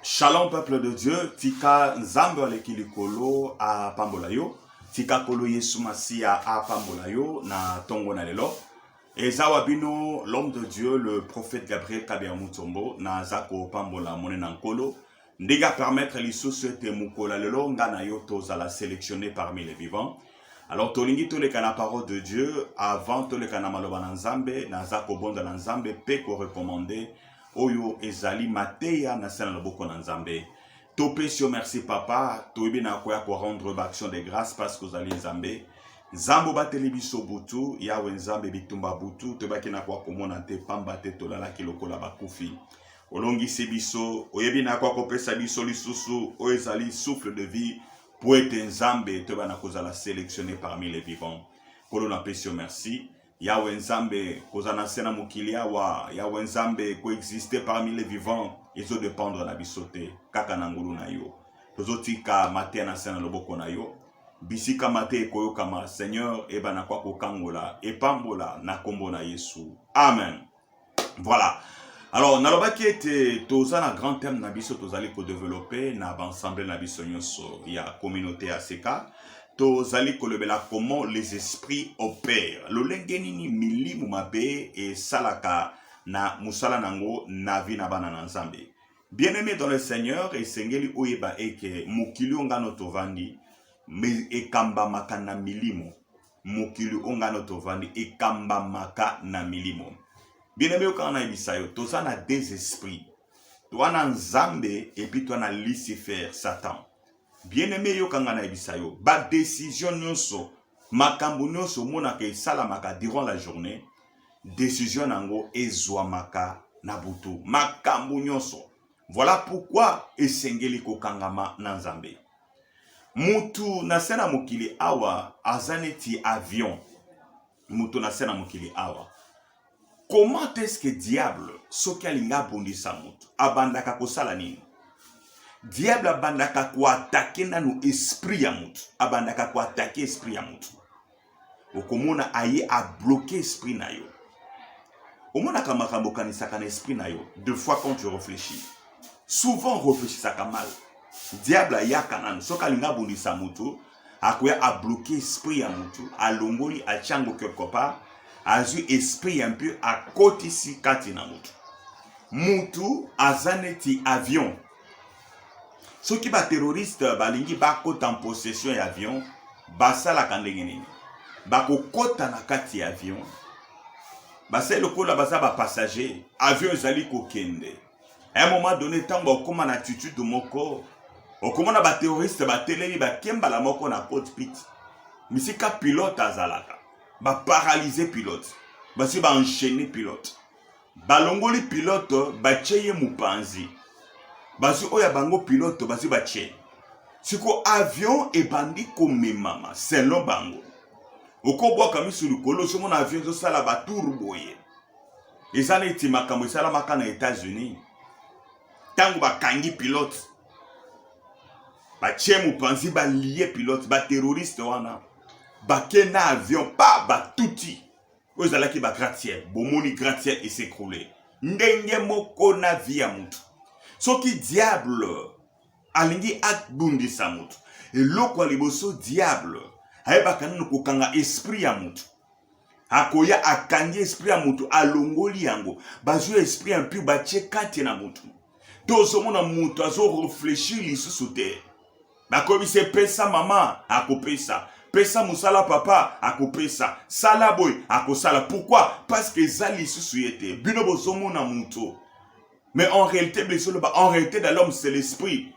Shalom peuple de Dieu, tika Nzambe aleki likolo apambola yo, tika kolo Yesu Masiya apambola yo na tongo na lelo. Eza wa bino l'homme de Dieu, le prophète Gabriel Kabia Mutombo, naza kopambola mone na nkolo ndenge apermettre lisusu ete mokola lelo nga na yo tozala sélectionné parmi les vivants. Alors tolingi toleka na parole de Dieu avant toleka na maloba na Nzambe, naza kobondela Nzambe mpe korecommande oyo ezali mateya na se na loboko na nzambe topesi yo merci papa toyebi na koya korendre baaction de grâce parce que ozali nzambe nzambe obateli biso butu yawe nzambe bitumba butu toyebaki na koya komona te pamba te tolalaki lokola bakufi olongisi biso oyebi na koya kopesa biso lisusu oyo ezali souffle de vie mpo ete nzambe toyeba na kozala selectionne parmi les vivants nkolo napesi yo merci Yawe Nzambe, kozala na se na mokili awa, Yawe Nzambe, koexiste parmi les vivants, ezodependre na biso te, kaka na ngolu na yo. Tozotika mateya na se na loboko na yo, bisika mate ekoyokama, Seigneur, ebana kwa kokangola, epambola na kombo na Yesu. Amen. Voilà. Alors, nalobaki ete toza na grand thème na biso tozali kodevelope na baensemble na biso nyonso ya communauté ya seka tozali kolobela comment les esprits opèrent lolenge nini milimu mabe esalaka na mosala na yango na vi na bana na nzambe bien aimé dans le seigneur esengeli oyeba eke mokili oyo ngano tovandi ekambamaka na milimo mokili oyo ngai no tovandi ekambamaka na milimo bino biyokaka na yebisa yo toza na des esprits toa na nzambe epi toa na lucifer satan bien aime yoka ngai na yebisa yo badesizio nyonso makambo nyonso omonaka esalamaka durant la journée desizio na yango ezwamaka na butu makambo nyonso Voilà pourquoi esengeli kokangama na Nzambe. Mutu na se na mokili awa aza neti avion. Mutu na se na mokili awa. Comment est-ce que diable soki alinga abundisa mutu abandaka kosala nini? Diable abandaka koatake nanu esprit ya mutu, abandaka koatake esprit ya mutu. okomona aye abloke esprit na yo omonaka makambo okanisaka na esprit na yo de fois quand tu réfléchis souvent réfléchisaka mal diable ayaka nanu soki alinga abundisa moto akoya abloke esprit ya moto alongoli atyango quelque part azwi esprit ya mpe akotisi kati na moto motu aza neti avion soki baterroriste balingi bakota possession ya avion basalaka ndenge nini bakokota na kati ya avion basali lokola baza bapassager avion ezali kokende a un moment donné ntango bakokoma na attitude moko okomona baterroriste batelemi bakembala moko na cockpit misika pilote azalaka baparalyse pilote basi baenchaine pilote balongoli pilote batie ye mopanzi bazwi oyo ya bango pilote bazwi batie siko avion ebandi komemama selon bango okobwaka misu likolo ozomona avion ezosala batour boye eza neti makambo esalamaka na états-unis ntango bakangi pilote batie mopanzi balie pilote baterroriste wana bake na avion pa batuti oyo ezalaki ba gratia bomoni gratia esekroule ndenge moko na vi ya motu soki diable alingi abundisa motu eloko ya liboso diable ayebaka nano kokanga esprit ya motu akoya akangi esprit ya motu alongoli yango bazwi esprit ya mpio batie kati na motu tozomona motu azoreflechir lisusu te nakoyebisa ye pesa mama akopesa pesa mosala papa akopesa sala boye akosala pourquoi parce que eza lisusu ye te bino bozomona moto mais en réalité bizoloba en réalité de l'homme c'est l'esprit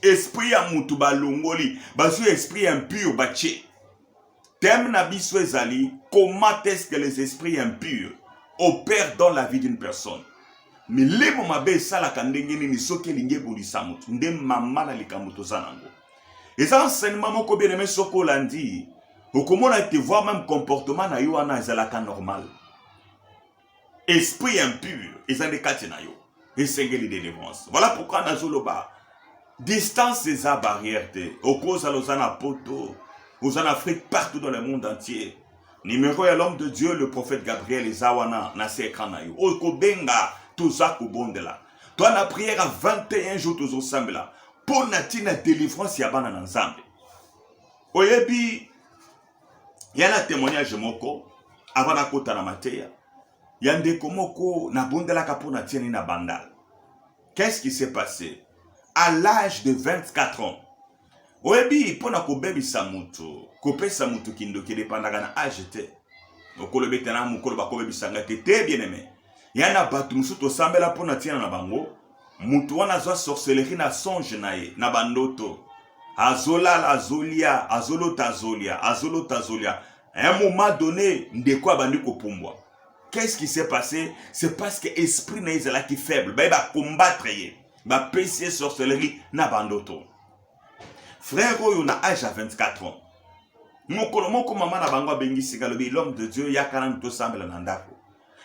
esprit ya moto balongoli bazwi esprit impur batie Thème na biso ezali comment est-ce que les esprits impurs opèrent dans la vie d'une personne. Milimo mabe esalaka ndenge nini soki elingi ebundisa moto nde mama na likambo toza nango. Eza enseignement moko bien aimé soki olandi okomona ete voir même comportement na yo wana ezalaka normal. esprit impur eza nde kati na yo esengeli delivrance voilà pourquoi nazoloba distance eza barrière te okozala oza na poto oza na afrique partout dans le monde entier numéro ya l'homme de dieu le prophète gabriel eza wana na se ekran na yo oyo kobenga toza kobondela toi na prière ya 21 jour tozosambela mpo na ntina délivrance ya bana na nzambe oyebi ya na témoignage moko avant nakota na mateya ya ndeko moko nabondelaka mpo na tieni na bandal qu'est-ce qui s'est passé à l'âge de 24 ans oyebi mpo na kobebisa motu kopesa motu kindoki edepandaka na age te okoloba ete na mokolo bakobebisa ngai te te bien aime ya na bato mosusu tosambela mpo na ntina na bango Mutu wana azwa sorcellerie na songe na ye na ba ndoto. Azolala azolia, azolota azolia, azolota azolia. À un moment donné, ndeko abandi kopumbwa. Qu'est-ce qui s'est passé? C'est parce que esprit na ye ezalaki faible. Baye ba combattre ye. Bapesi ye sorcellerie na ba ndoto. Frère oyo na âge ya 24 ans. Mokolo moko mama na bango abengisi ngai alobi l'homme de Dieu yaka nanu tosambela na ndako.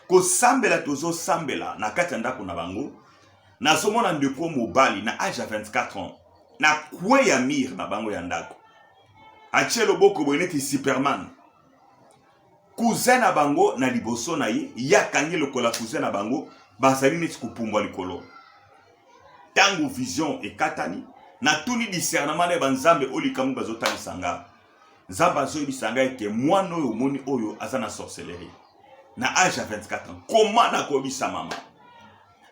kosambela tozosambela na kati ya ndako na bango nazomona ndeko mobali na age ya 24 ans na kwe ya mire na bango ya ndako atie loboko boye neti superman cousin na bango na liboso na ye ye akangi lokola cousin na bango bazali neti kopumbwa likolo ntango vision ekatani natuni discernement na ye banzambe oyo likambo bazotalisa ngai nzambe azoyebisa ngai ete mwana oyo omoni oyo aza na sorcellerie na age ya 24 ans koma nakoyebisa mama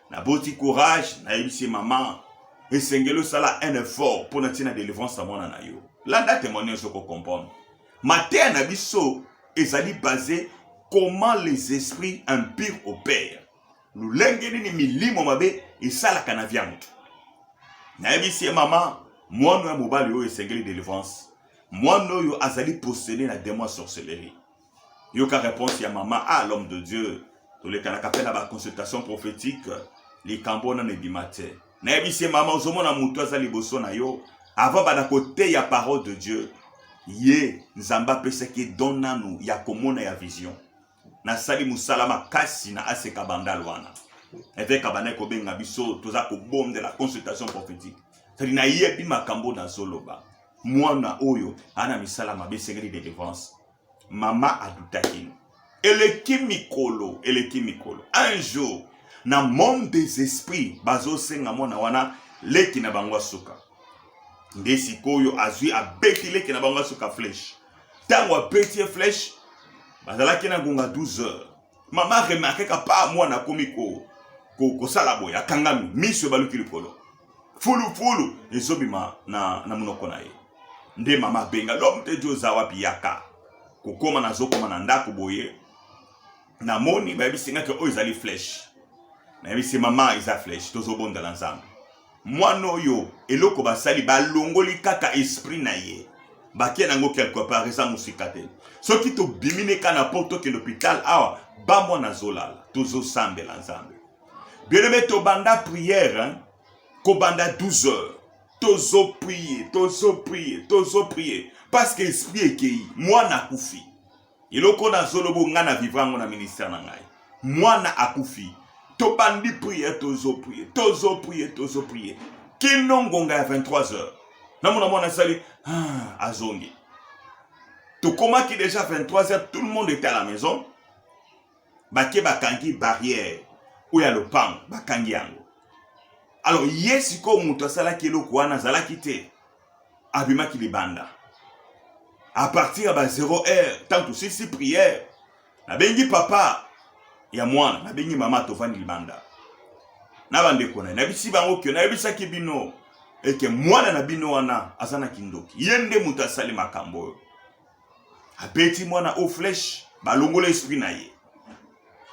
naboti courage nayebisi mama esengeli osala un effort mpo na ntina delivrance ya mwana na yo landa témoignage okocomprendre mateya na biso ezali base comment les esprits impurs opèrent lolenge nini milimo mabe esalaka na via moto nayebisi ye mama mwana ya mobali oyo esengeli delivrance mwana oyo azali posene na demon ya sorcellerie yoka réponse ya mama ah l'homme de dieu tolekanaka mpe na baconsultation prophétique likambo wana na ebima te nayebisi ye mama ozomona moto aza liboso na yo avant banda koteya parole de dieu ye nzambe apesaki don nanu ya komona ya vision nasali mosala makasi na aseka bandal wana eveke abandaki kobenga biso toza kobondela consultation prophétique sadi nayebi makambo nazoloba mwana oyo ana misala mabe esengeli delivrance mama adutaki eleki mikolo eleki mikolo un jour na monde des esprits bazosenga mwana wana leki na bango asuka nde sikoyo azwi abeti leki na bango asuka fleshe ntango abeti ye flèche bazalaki na ngonga 12 heures mama remarkeka pa mwana akomi kosala ko, ko boye akangami miso ebaluki likolo fulufulu ezobima na, na monoko na ye nde mama abenga lom te di oza wapi yaka kokoma nazokoma na ndako boye namoni bayebisi ngaki oyo ezali flèche nayebisi mama eza flèche tozobondela nzambe Mwana oyo eloko basali balongoli kaka esprit na ye batie nango quelque part eza mosika te soki tobimi ne ka na poto tokende hopital awa bamwana azolala tozosambela nzambe bieneme tobanda priere hein? kobanda 12 heures tozoprie tozoprie tozoprie parce que esprit ekei mwana akufi eloko na zolobo nga na vivre yango na ministère na ngai mwana akufi tobandi priere tozo priere tozo priere tozo priere kino ngonga ya 23 heures namona mwana asali ah, azongi tokomaki déjà 23 heures tout le monde était à la maison bake bakangi barrière oyo ya lopango bakangi yango alors ye sikoyo moto asalaki eloko wana azalaki te abimaki libanda à partir ya ba 0 heure ntango tosilisi prière nabengi papa ya mwana nabengi mama tovandi libanda na bandeko na ye nayebisi bango ke nayebisaki bino eke mwana na bino wana aza na kindoki ye nde moto asali makambo oyo abeti mwana o flèche balongola esprit na ye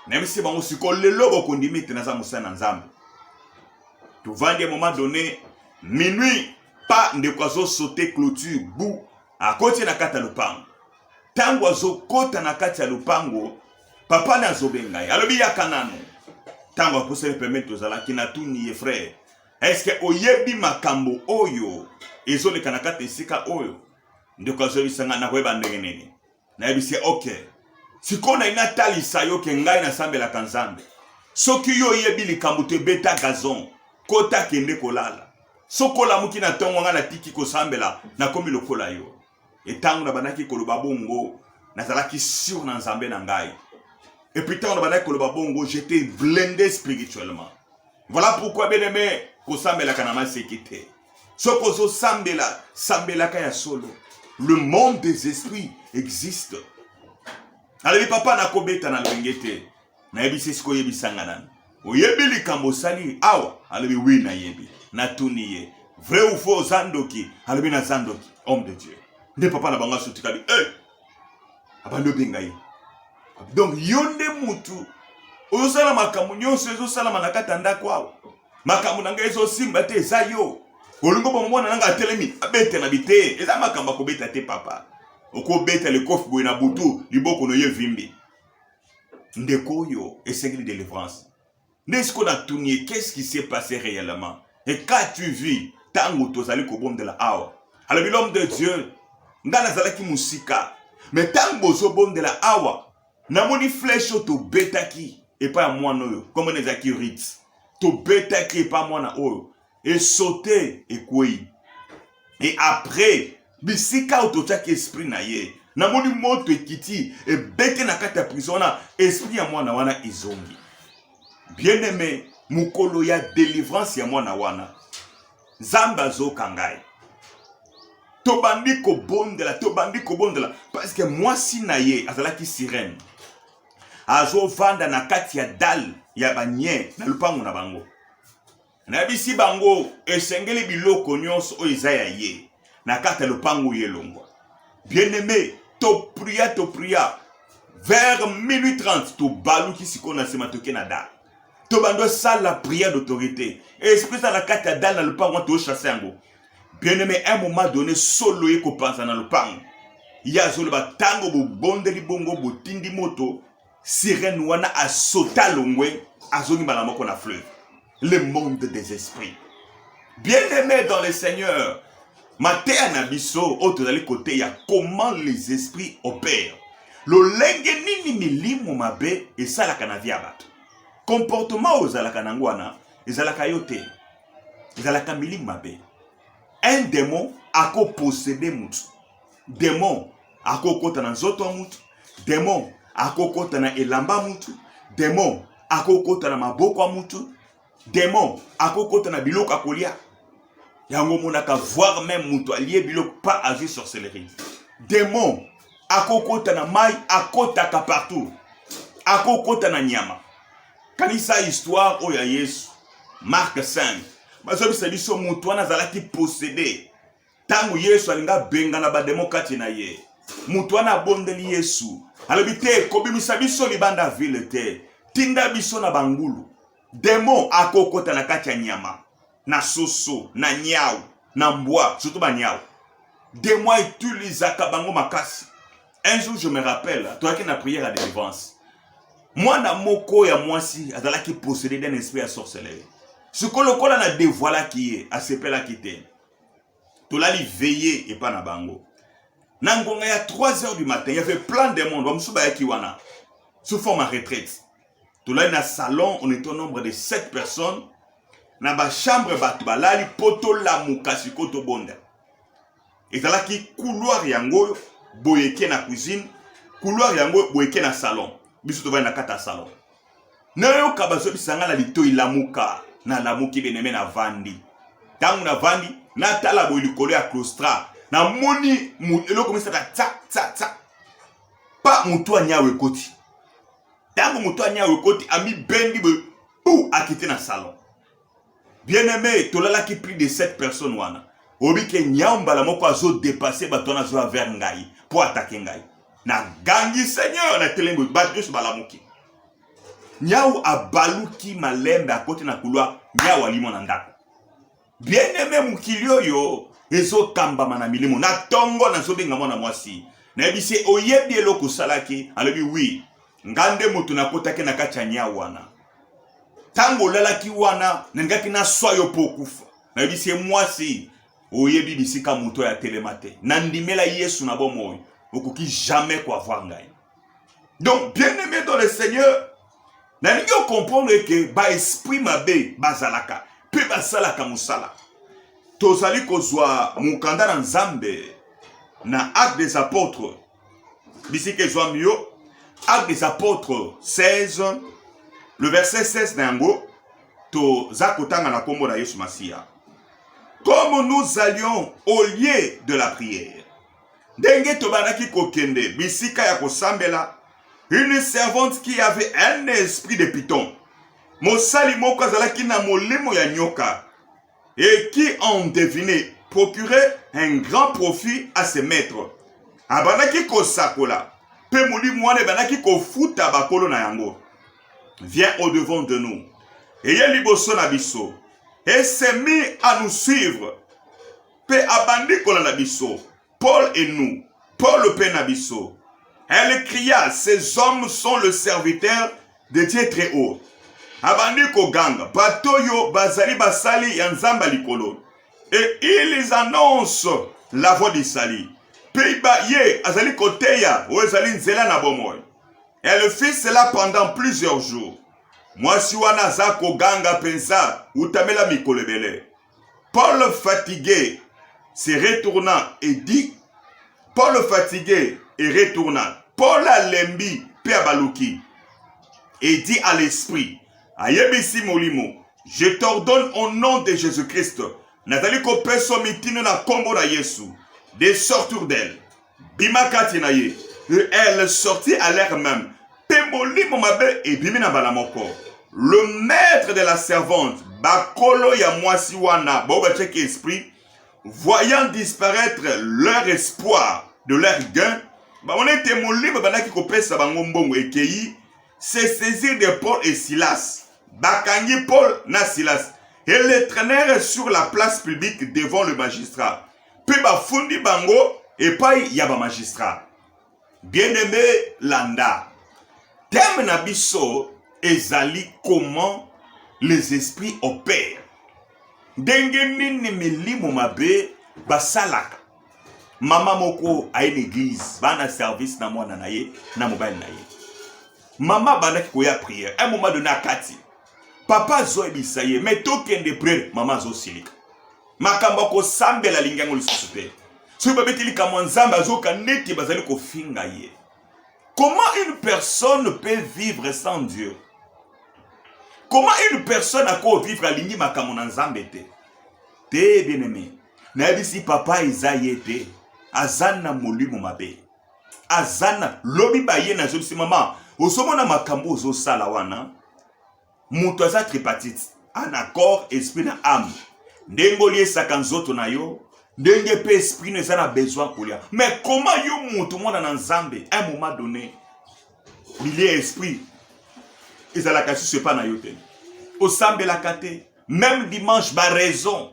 nayebisi bango sikoyo lelo bokondima ete naza mosali na nzambe tovandi ya moment donné minuit pa ndeko azosote clôture bu akoti na kati ya lopango ntango azokota na kati ya lopango papa na azobenga ye alobi yaka nano ntango apusani pembeni tozalaki natuni ye frere eske oyebi makambo oyo ezoleka na kati ya esika oyo ndeko azobisa ngai nakoyeba ndenge nini nayebisi ye ok sikoyo nayi natalisa yo ke ngai nasambelaka nzambe soki yo oyebi likambo te beta gazon kota kende kolala soki olamuki na ntongo ngai natiki kosambela nakomi lokola yo etango nabandaki koloba bongo nazalaki sur na nzambe na ngai epuis ntango nabandaki koloba bongo j'étais blende spirituellement voilà pourquoi bien aime kosambelaka na maseki te soki ozosambela sambelaka ya solo le monde des esprits existe alobi papa nakobeta na lolenge te nayebisi esika oyebisanga nanu oyebi likambo osali awa alobi wi nayebi natuni ye vrai ou faux oza ndoki alobi naza ndoki homme de dieu nde papa na bango asutikali e eh! abandi obenga ye donc yo nde mutu ozosala makambo nyonso ezosalama na kati ya ndako awa makambo na ngai ezosimba te eza yo olingo bomona nanga atelemi abetela bi te eza makambo akobeta te papa okobeta likofi boye na butu liboko noye vimbi ndeko oyo esengeli delivrance nde siko natuni ye qu'est-ce qui s'est passé réellement et quand tu vis ntango tozali kobondela awa alobi l'homme de dieu ngai nazalaki mosika me ntango bozobondela awa namoni flèche oyo tobetaki epai ya mwana oyo komona ezalaki rit tobetaki epai mwana oyo esote ekwei e après bisika oyo totyaki esprit na ye namoni moto ekiti ebete na kati ya prison wana esprit ya mwana wana ezongi bien aime mokolo ya delivrance ya mwana wana nzambe azoka ngai tobandi kobondela tobandi kobondela parceke mwasi na ye azalaki sirene azovanda na kati ya dale ya banye na lopango na bango nayebisi bango esengeli biloko nyonso oyo eza ya ye na kati ya lopango ye elongwa bien aime topria topria vers minuit 30 tobaluki sikoyo na nsima toke na dale to bando esala prière d'autorité esprit eza na kati ya dale na lopango wana tochasse yango bien aimé un moment donné solo ye kopanza na lopango ye azoloba ntango bobondeli bongo botindi moto sirene wana asota longwe azongi mbala moko na fleuve le monde des esprits bien aimé dans le seigneur mateya na biso oyo tozali koteya comment les esprits opèrent lolenge nini milimo mabe esalaka na via bato comportement oyo ozalaka nango wana ezalaka yo te ezalaka milimo mabe un demon akoposede motu demon akokota na nzoto ya motu demon akokota na elamba ya motu demon akokota na maboko ya motu demon akokota na biloko akolia yango omonaka voir meme moto alie biloko pa azwi sorcellerie demon akokota na mai akotaka partout akokota na nyama kanisa histoire oyo ya yesu mark 5 bazobisa biso moto wana azalaki posede ntango yesu alingi abengana bademo kati na ye moto wana abondeli yesu alobi te kobimisa biso libanda vile te tinda biso na bangulu demo akokota na kati ya nyama na soso na nyau na mbwa surtout banyau demo autilisaka bango makasi un jour je me rappelle toyaki na prière ya délivrance mwana moko ya mwasi azalaki possédé d'un esprit ya sorcellerie sikoyo lokola na devoilaki ye asepelaki te tolali veye epa na bango na ngonga ya 3 heures du matin yave plein de monde bamosusu bayaki wana sous forme ya retraite tolali na salon on est au nombre de 7 personnes na bachambre bato balali mpo tolamuka sikoyo tobonda ezalaki couloir yango oyo boyeke na cuisine couloir yango boyeke na salon biso tovandi na kati ya salon nayoka bazobisa nga na litoi lamuka nalamuki beneme navandi ntango navandi natala boye likolo ya clostra namoni eloko misaka tsa tsa tsa pa motu anyawe ekoti ntango motu anyawe ekoti amibendi boye pu akiti na salon Bien aimé, tolalaki plus de 7 personnes wana. Obi ke nyao mbala moko azo dépasser bato wana azo vers ngai pour attaquer ngai. Na gangi Seigneur na telengo bato nyonso balamuki. Nyao abaluki malembe akoti na couloir, nyao alimo na ndako. Bien aimé mokili oyo ezokambama na milimo na tongo nazobenga mwana mwasi nayebisi oyebi eloko osalaki alobi wi nga nde moto nakotaki na kati ya nia wana ntango olalaki wana nalingaki naswa yo mpo okufa nayebisi ye mwasi oyebi bisika moto ya telema te nandimela yesu na bomoi okoki jamais koavoir ngai donc bien aimé dans le seigneur nalingi okomprendre ete baesprit mabe bazalaka mpe basalaka mosala tozali kozwa mokanda na nzambe na acte des apôtres bisika ezwami yo acte des apôtres 16 le verset 16 na yango toza kotanga na nkombo na yesu masiya comme nous allions au lieu de la prière ndenge tobandaki kokende bisika ya kosambela une servante qui avait un esprit de piton mosali moko azalaki na molimo ya nyoka et qui ont deviné procurer un grand profit à ses maîtres abandaki kosakola mpe molimo wana ebandaki kofuta bakolo na yango vient au devant de nous eye liboso na biso et s'est mis à nous suivre mpe abandi kolanda biso Paul et nous, Paul pe na biso. Elle cria, ces hommes sont le serviteur de Dieu très haut. Abandi koganga, bato yo bazali basali ya Nzamba likolo. Et ils annoncent la voie du salut. Pe ba ye azali koteya oyo ezali nzela na bomoi. Elle fit cela pendant plusieurs jours. Mwasi wana aza koganga penza utamela mikolo ebele. Paul fatigue se retournant et dit Paul fatigue et retournant. Paul alembi mpe abaluki et dit à l'esprit ayebisi molimo je t'ordonne au nom de Jésus-Christ nazali kopesa mitindo na nkombo na Yesu de sortir d'elle bima kati na ye elle sortit à l'air même mpe molimo mabe ebimi na mbala moko le maître de la servante bakolo ya mwasi wana bao batiaki esprit voyant disparaître leur espoir de leur gain bamona ete molimo ebandaki kopesa bango mbongo ekei se saisir de paul et silas bakangi paul na silas et les traînèrent sur la place publique devant le magistrat mpe bafundi bango epai ya bamagistrat bien aime landa teme na biso ezali comment les esprits opèrent ndenge nini milimo mabe basalaka mama moko aye na eglize baa na service na mwana na ye na mobali na ye mama abandaki koya priere un moment donné akati papa azoyebisa ye me tokende priere mama azosilika makambo ya kosambela alingi yango lisusu te soki babeti likambo ya nzambe azoyoka neti bazali kofinga ye comment une personne peut vivre sans dieu comment une personne akoki vivre alingi makambo na nzambe te te bien aimé nayebisi papa eza ye te aza na molimo mabe aza na lobi baye nazobisi mama ozomona makambo ozosala wana moto aza tripartite ana corps esprit na ame ndenge oliesaka nzoto na yo ndenge mpe esprit no eza na besoin kolia mais koma yo moto mwana na nzambe un moment donné bilia ya esprit ezalaka susu epa na yo te osambelaka te meme dimanche baraison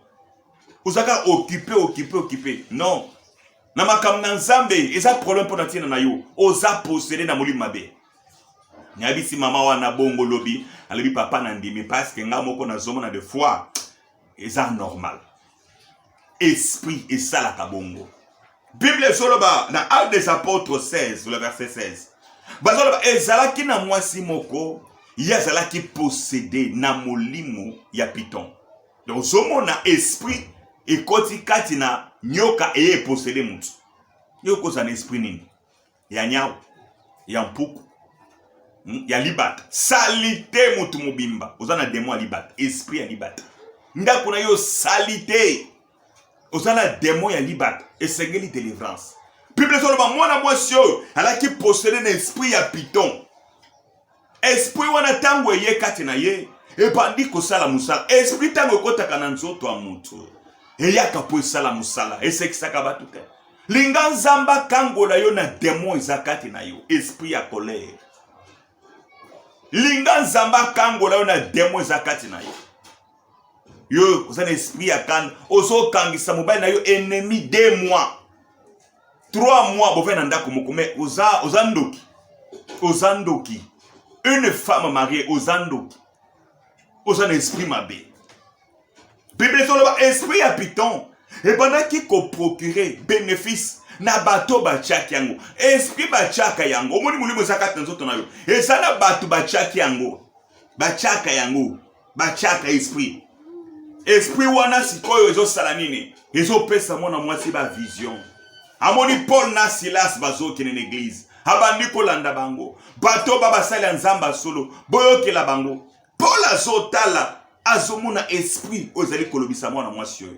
ozalaka okipe okipe okipe non na makambo na nzambe eza problème mpo na ntina na yo oza posele na molimo mabe nayebisi mama wana bongo lobi alobi papa na ndimi parce que nga moko nazomona de fois eza normal esprit esalaka bongo bible ezoloba na acte des apôtres 16 le verset 16 bazoloba ezalaki na mwasi moko ye azalaki posede na molimo ya piton donc ozomona esprit ekoti kati na nyoka eye eposede motu yo okozala na esprit nini ya nyau ya mpuku hmm, ya libata salite motu mobimba oza na demo ya libata esprit ya libata ndako na yo salite oza na demo ya libata esengeli delivrance bible ezoloba mwana mwasi oyo alaki posede na esprit ya piton esprit wana ntango eye kati na ye ebandi kosala mosala esprit ntango ekotaka na nzoto ya moto eyaka mpo esala mosala esekisaka bato te linga nzambe akangola yo na demon eza kati na yo esprit ya colere linga nzambe akangola yo na demon eza kati na yo yo oza na esprit ya kanda ozokangisa mobali na yo ennemi de mois 3 mois bovandi na ndako moko mais oza oza ndoki oza ndoki une femme mariée oza ndoki oza na esprit mabe biblia ezoloba esprit ya piton ebandaki koprocure bénéfice na bato batyaki yango esprit batyaka yango omoni molimo eza kati na nzoto na yo eza na bato batyaki yango batyaka yango batiaka esprit esprit wana sikoyo ezosala nini ezopesa mwana mwasi ba vision amoni paul na silas bazokende na eglize abandi kolanda bango bato ba basali ya nzambe ya solo boyokela bango paul azotala azomona esprit oyo ezali kolobisa mwana mwasi oyo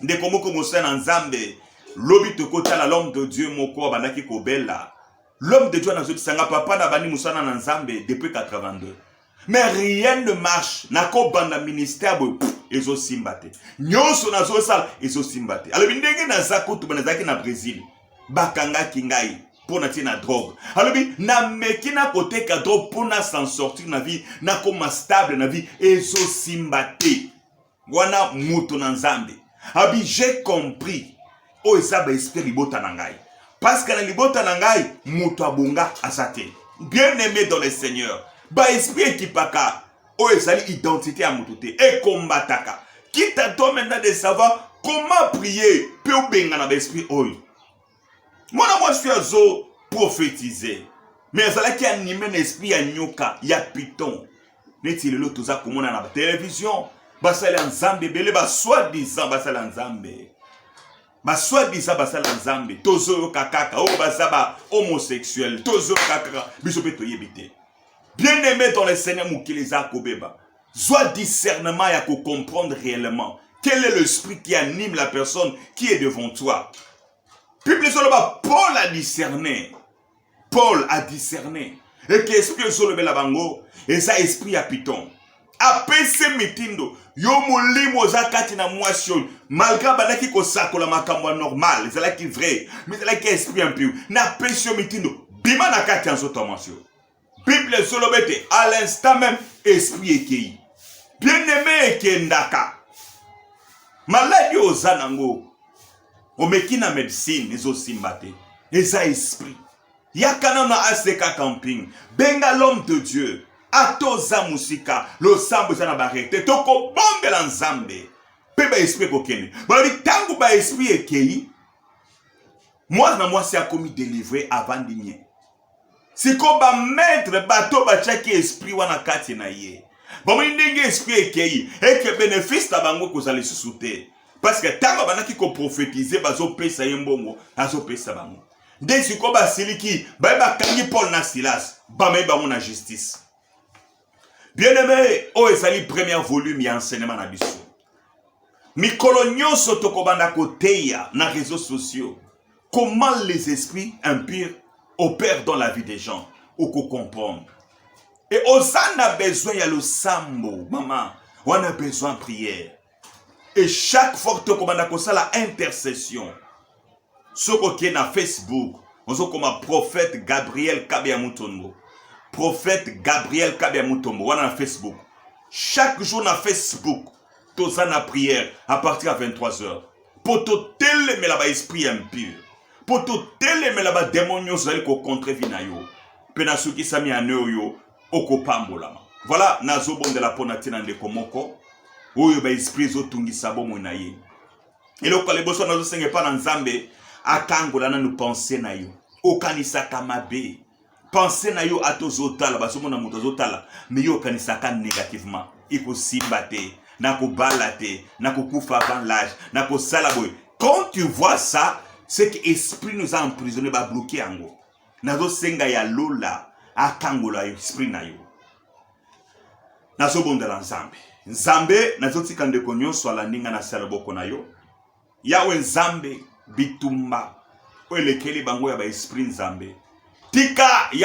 ndeko moko mosali na nzambe lobi tokotala l'homme de dieu moko abandaki kobela l'homme de dieu anazokisa nga papa na bandi mosala na nzambe depuis 82 mais rien ne marche nakobanda ministère boye ezosimba te nyonso nazosala ezosimba te alobi ndenge naza kutu bana ezalaki na brésil bakangaki ngai mpo na tie na drogue alobi nameki na koteka drogue mpo na s'en sortir na vie nakoma stable na vie ezosimba te wana moto na nzambe abi j'ai compris oyo eza baesprit libota na ngai parceke na libota na ngai moto abonga aza te bien aimé dans le seigneur baesprit ekipaka oyo ezali identité ya moto te ekombataka kita to maintenant de savoir comment prier mpe obengana baesprit oyo mwana mwasi oyo azo profetize mais azalaki anime na esprit ya nyoka ya piton neti lelo toza komona na television basali ya nzambe ebele basoi disant basali ya nzambe basoi disant basali ya nzambe tozoyoka kaka oyo baza ba homosexuel tozoyoka kaka biso mpe toyebi te bien aime dans le seigneur mokili eza kobeba Zwa discernement ya ko comprendre réellement quel est l'esprit qui anime la personne qui est devant toi. Bible ezoloba Paul a discerné. Paul a discerné. Et que esprit ezolobela bango eza esprit ya piton. apesi mitindo yo molimo oza kati na mwasi oyo malgre abandaki kosakola makambo ya normal ezalaki vrai mais ezalaki esprit impur napesi yo mitindo bima na kati ya nzoto ya mwasi oyo bible ezoloba ete à l'instant même esprit ekei bien aime ekendaka maladi oyo oza nango omeki na medicine ezosimba te eza esprit yaka nano aseka camping benga l'homme de dieu ata oza mosika losambo eza na barriere te tokobombela nzambe mpe baesprit ekokende balobi ntango baesprit ekei mwana na mwasi akomi delivre avandi nie siko ba maitre bato batiaki esprit wana kati na ye bamoni ndenge esprit ekei eke benefice na bango ekozala lisusu te parce que ntango abandaki koprofetize bazopesa ye mbongo azopesa bango nde sikoyo basiliki baye bakangi paul na silas bamei bango na justice bien aime oyo ezali premier volume ya enseignement na biso mikolo nyonso tokobanda koteya na réseaux sociaux comment les esprits impurs opèrent dans la vie des gens okocomprendre e oza na besoin ya losambo mama wana besoin prière et chaque fois tokobanda kosala intercession soki oke na facebook ozokoma prophète gabriel kabeya mutombo prophète gabriel kabeya mutombo wana na facebook chaque jour na facebook toza na prière à partir ya 23 heures mpo totelemela baesprit ya impure mpo totelemela bademo nyonso ezali kocontre vi na yo mpe nasukisami ane oyo okopambolama voilà nazobondela mpo na ntina ndeko moko oyo baesprit ezotungisa bomoi na ye eloko ya liboso nazosenga epa na nzambe akangola nanu pense na yo okanisaka mabe pense na yo ata ozotala bazomona moto azotala me yo okanisaka negativement ekosimba te nakobala te nakokufa avant l'age nakosala boye quand tu vois ça c'est que esprit nous a emprisonné babloke yango nazosenga ya lola akangola esprit na yo nazobondela nzambe nzambe nazotika ndeko nyonso alandi ngai na se ya loboko na yo yawe nzambe bitumba oyo elekeli bango ya baesprit nzambe tika ya